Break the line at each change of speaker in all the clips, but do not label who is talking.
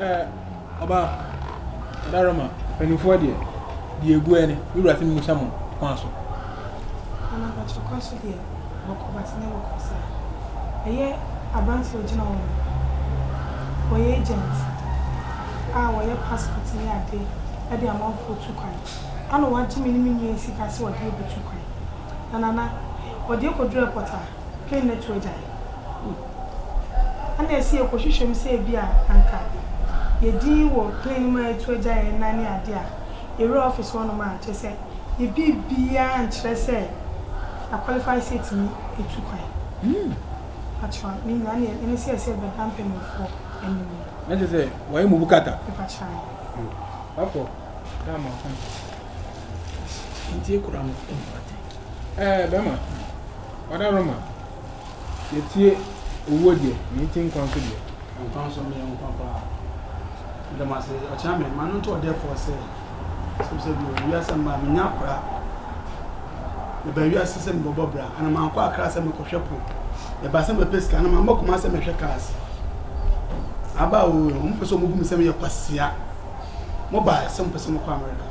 Ɛɛ, ɔba Ɛda Roma mpanimfoɔ deɛ, deɛ ɛgu ɛ ne, Me Wura se memmisa mo kwan so. Anaa
Bakyere kwan so deɛ, wɔkɔ but nyɛ wɔ kwan saa. Ɛyɛ aberanteɛ a ɔgyina hɔ no, ɔyɛ agent a ɔyɛ passport ne adeɛ de amanfoɔ tu kwan. Ana wagye me ne me nua yi sika sɛ ɔde yɛbɛtu kwan. Na Nana, ɔde yɛkɔduru airport a, Kain ne to agyae. Ɛnna ɛsɛ yɛkɔhwehwɛ mu sɛ ebia anka yɛn din wɔ plan no mu a ɛto agyae nna ne ade a yɛwura office hɔnom a, kyerɛ sɛ yɛn biribiara nkyerɛ sɛ yɛ qualify sɛ yɛtumi atu kwan. Mpakyɛ ne nyinaa ne ɛne sɛ ɛsɛ yɛbɛda mpanyinfoɔ anim. Na kyerɛ sɛ
wɔayɛ mu bukata. Mpakyɛ.
Wafɔ.
Daa ma ɔka.
Nti ekura no. Ɛɛ
bɛma ɔda Roma Yɛtie owuo deɛ na yɛtie nkwa nso deɛ. Nkwa nso meyɛ
nkwa paa Meda mo ase ɔkyena me ma no nto ɔdɛɛfoɔ sɛ Sɛm sɛ bio wiase mma menya akora Meba wiase sɛ mebɛbɔ bra Ana mankɔ akra sɛ mekɔhwɛ po Meba sɛ mɛpɛ sika Ana mamba kuma sɛ mɛhwɛ cars Aba oo wɔn pɛ sɛ wɔn bu me sɛ meyɛ kwasia Mo ba sɛ mo pɛ sɛ mo kɔ America.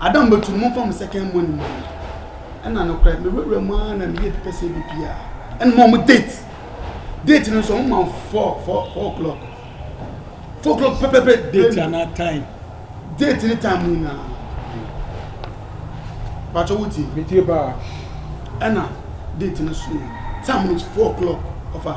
Adam bɛtu no, momfa mo second money mma me. Ɛna nokorɛ, mewurawura mu ara na meyɛ pipɛ sɛ ɛbɛpie a, ɛna ma wɔn date. Date no nso, wɔn ma four, four, four o'clock. Four o'clock pɛpɛpɛ. Date anaa time?
Date ne
time nyinaa. Bàtɔ wo tie. Metie paa.
Ɛna
date no so yɛ time no four o'clock ɔfa.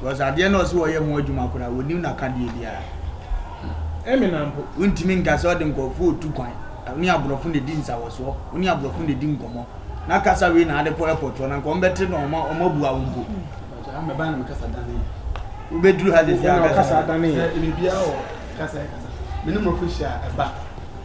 Because adeɛ no a ɔse wɔyɛ ho adwuma koraa wɔnim nakadeɛ biara. Eminem
mpo wontumi nka sɛ ɔde
nkurɔfoɔ retu kwan. Wone aborɔfo na ɛdi nsawɔsoɔ, wone aborɔfo na ɛdi nkɔmmɔ. Na kasa wei na ade kɔ airport hɔ no anka wɔbɛte na wɔabua wo mpo. Mpakyɛ ah mɛba na
me kasa dane yɛ. Wobɛduru ha sɛsɛ a
kasa dane yɛ. Sɛ biribiara
wɔ kasa
yɛ kasa. Me ne mmorɔfo hyia a ɛba.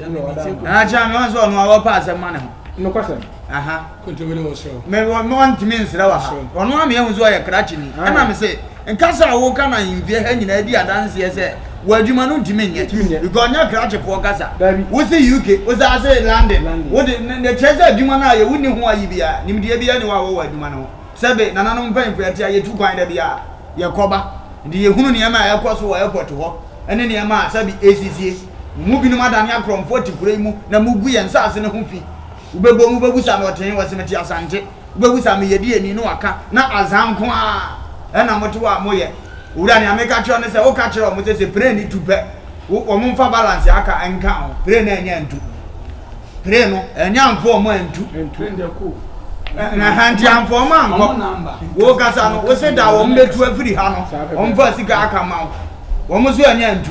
Akyɛ me nso ɔno a wɔpɛ asɛm ma ne ho. Nokwasɛm.
Aha. Kontumi
ne wɔn srɛ.
Me wɔ me ntumi
nsrɛ wɔ ha. Ɔno a me ehu so ɔyɛ krakye ni. Ɛna me se nkasa a wɔka na mfie ha nyinaa di adanseɛ sɛ wɔ adwuma no ntumi nyɛ. Ntumi nyɛ. Because nyɛ krakye foɔ kasa. Dabi. Wo se UK, wo san se London. London. Wo de ne kyerɛ sɛ adwuma no ayɛ wo ni ho ayi biara. Nimdeɛ biara ni hɔ a wɔwɔ adwuma no ho. Sɛbe nananom mpanyinfoɔ ɛte a yɛtu kwan da biara yɛkɔ ba. Nti yɛhunu nneɛma a ɛkɔ so wɔ airport hɔ ɛne nneɛma a sɛbe ɛsisie. Mo mu binom adane akorɔmfoɔ te kuro yi mu na mogu yɛn nsase no ho fi. Wobɛbom wobɛhu sɛ ano ɔtee wɔ se mete Asante. Wobɛhu sɛ meyɛ diani no waka na azan nko ara na mote hɔ a moyɛ. Owura nea meka kyerɛ wo ne sɛ woka kyerɛ wɔn sɛ sɛ pire no tu pɛ wo wɔn mfa balance aka nka ho. Pire no annya antu. Pire no annya amfo wɔn antu.
Ɛhɛn
nti amfo wɔn ankɔ. Wokasa no wose da wɔn bɛtu afiri ha no wɔmfa sika aka ma wo. Wɔn nso annya antu.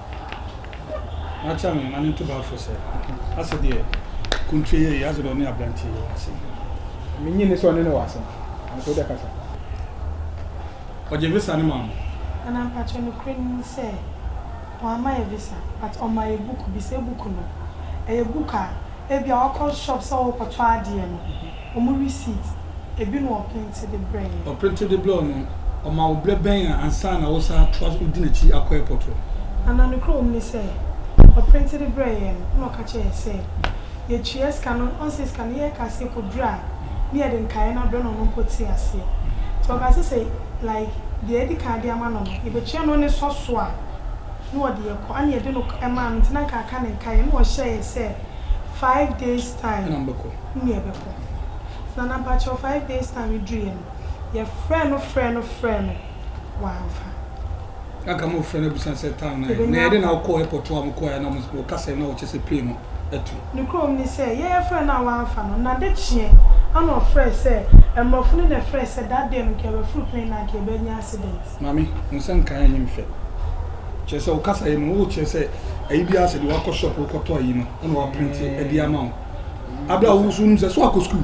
Makyea me mma ne ntobafo sɛ, Ase deɛ, Kontire yɛ yie, ase deɛ ɔne aberanteɛ yi wɔ asɛm. Minnye nni
sɛ ɔne no wɔ asɛm, nanso wo deɛ kasa.
Ɔgye visa no maa mo? Anaa mpakyɛw
nokorɛ no ni sɛ wamma yɛ visa but ɔmaa yɛ buku bi, sɛ buku no, ɛyɛ book a Ebia wakɔ shop sɛ ɔrekɔtɔ adeɛ no, wɔn receipt, ebi na ɔprinte de brɛɛ yɛn. Ɔprinte de brɛɛ wo no,
ɔma wo berɛ bɛn a ansa na wosan atoa so, wodi n'akyi akɔ airport hɔ? Anaa nokorɛ wɔ
mu ne sɛ, ɔprinte de brɛɛ yɛn no, ɛna ɔka kyerɛɛ yɛn sɛ, yɛtua sika no, ɔhu sɛ sika no yɛ ka sɛ ɛkɔduru a, ne yɛde nkaeɛ no abrɛ no, ɔno mpo tee aseɛ. Nti ɔkaa sɛ sɛ like deɛ yɛadi kan de ama no no, yɛbɛtua no ne sɔ so a, na wɔde yɛn kɔ, ɛna yɛde no maa no nti na anka aka ne nkaeɛ, ɛna ɔhyɛɛ yɛn sɛ five days time na yɛbɛkɔ, na na mpakyɛw five days time no duruiɛ no, yɛfrɛɛ no frɛɛ no frɛɛ no, wamfa.
Anka mofrɛ no abisa no sɛ time no ayɛ, na yɛde na wokɔɔ airport hɔ a mokɔeɛ a na wɔkasa na wɔkyerɛ sɛ plane no atu. Nokorɛm ne sɛ,
Yɛn frɛ no a wɔamfa no. N'adekyeɛ ana ɔfrɛɛ sɛ, Mmorɔfo no na ɛfrɛɛ sɛ, da deɛ no nka yɛbɛforo plane no anka yɛbɛnya accident. Maame, wo nsa nka
ayi me fɛ. Kyerɛ sɛ wo kasaeɛ mu no wo kyerɛ sɛ ayi biara sɛ deɛ wakɔ shop wo kɔtɔ ayi no ɛna waprinte ɛde ama wo. Aberɛ a wo nso wonim sɛ so akɔ school.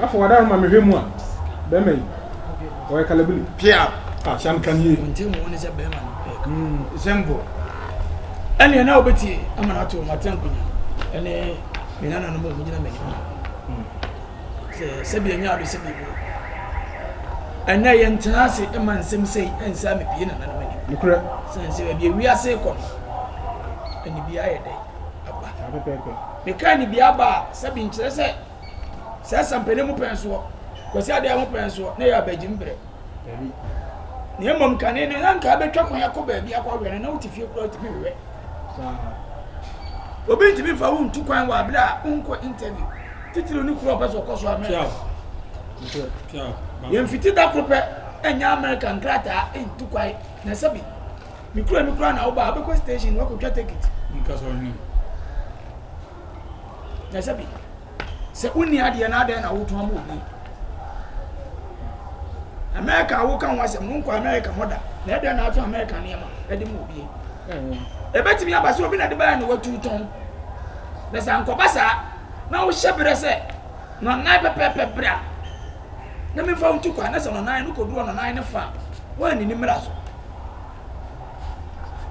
Bafo wada no ma me hwɛ mu a bɛma yi ɔyɛ kalabili pia a shan
kan yie.
Nti mu ne sɛ bɛma no pɛ. Mm sembo. Ɛne na obeti ama na to mate nkunya. Ɛne me nana no mo gyina me ho. Sɛ sɛ bi anya ado sɛ bi bo. Ɛnɛ yɛ ntena ase ɛma nsɛm sɛ ɛnsa me pie nana no mani. Nukurɛ. Sɛ nsɛ
bi
wiase kɔ. Ɛne bi ayɛ dɛ. aba. Saa pɛpɛɛpɛ.
Mekaa ne bi
aba a, sɛbi nkyerɛ sɛ sɛ asampani mu pɛn soɔ, Kwasi Adeɛ ho pɛn soɔ, na ɛyɛ abagyim berɛ. Dabi.
Na
mmom kane no, na nka abɛtwa kwan akɔ baabi akɔ awɛ no, na wote fie koraa wotumi wewɛ. Saa. Obi ntumi mfa wo ntu kwan wɔ abere a wonkɔ interview. Titiriw ne kuro a ɔpɛ sɛ ɔkɔ so America.
Yɛmfiti
da koro pɛ ɛnyɛ America nkrataa ntu kwan na sɛbi. Me kura me kura na wo ba abe ko station wa ko twa ticket. Nka so ni.
Ya
sabi. Se uni ade na ade na wo to amu obi. America wo kan wa se mo nko America moda. Na ade na ato America ne ma. Ade mu obi. Ebetimi aba se obi na de ba na watu ton. Na sa nko ba sa na wo hye bere se no nan pepepe bra. Na me fa wo tu kwa na se no nan no koduro no nan ne fa. Wa ni ni mra so.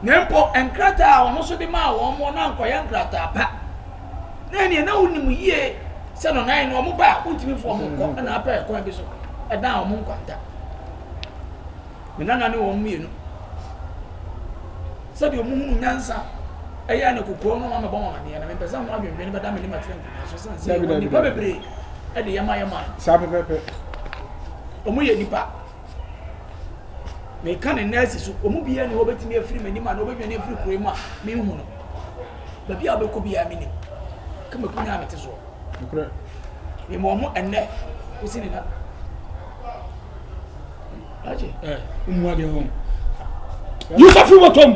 Na mpo nkrataa a ɔno nso de maa wɔn no na ankɔyɛ nkrataa pa. Na ɛneɛ na wonim yie sɛ no nan no wɔn ba a wontumi mfa wɔn nkɔ ɛna apɛ ɛkwan bi so ɛdan wɔn nkwanta. Me nana ne wɔn mmienu sɛdeɛ wɔn hunu nyansa ɛyɛ na kokoɔ no wɔn abɛbɔ wɔn adeɛ na mempɛ sɛ ho adwendwene bɛda me ne matiri nkonnwa so sane sɛ wɔn nipa bebree ɛde yɛ ma yɛ man. Saa pɛpɛpɛ. Wɔn yɛ nipa. meka ne nurse so wɔn mu biara ni hɔ obetumi afiri m'anim a na obedwane afiri kuro yi mu a menhu no baabi a ɔbɛkɔ biara menim kama kun a mete soɔ
mema ɔmo
ɛnnɛ kosi ne na agye mmua deɛ
hɔ yusa firi bɔtɔm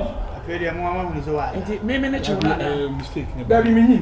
nti meme ne kyew no
anaa dabi
menyi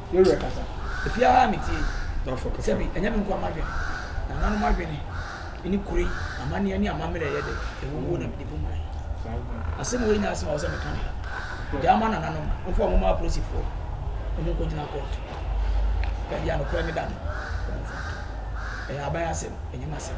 Yɛ werɛ kasa. Efi ara me tie.
Dɔfo kasa. Sɛbi ɛnyɛ me nkoa madwene. Nananom adwene ne kure yi. Amanneɛ ne amammerɛ ɛyɛ dɛ. Ɛwɔ wuo na mede bu man. Asɛm wei nyɛ asɛm a ɛwɔ sɛ meka no ha. Gyaa ma nananom. Momfa wɔn mma apolisifoɔ. Wɔn nkɔgyina court. Baabi a nokorɛ no da no, wɔmfa nto. Ɛyɛ aban asɛm, ɛnyɛ m'asɛm.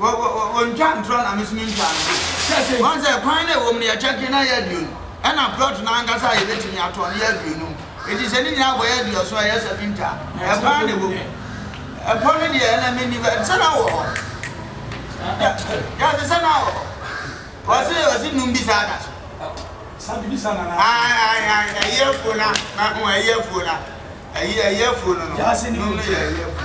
wɔ wɔ wɔ wɔntwa
ntorɔ na me nso mentwa ntorɔ. Wɔn sɛ kwan na ɛwɔ mu no yɛkyɛ ke na ɛyɛ aduonu ɛna plot no ankasa a yɛbɛtumi atɔ no yɛ aduonum enti sɛ ne nyinaa bɔ yɛ aduɔson a ɛyɛ seventy a ɛkwan na ɛwɔ mu. Ɛpɔ no deɛ ɛna menni bɛ sɛ na wɔ hɔ da da sɛ sɛ na wɔ hɔ wɔse wɔse num bi saa da
so. Ae ae ae ɛyɛ afuo
no a ho ɛyɛ afuo no a ɛyɛ ɛyɛ afuo no no num no yɛ ɛyɛ afuo.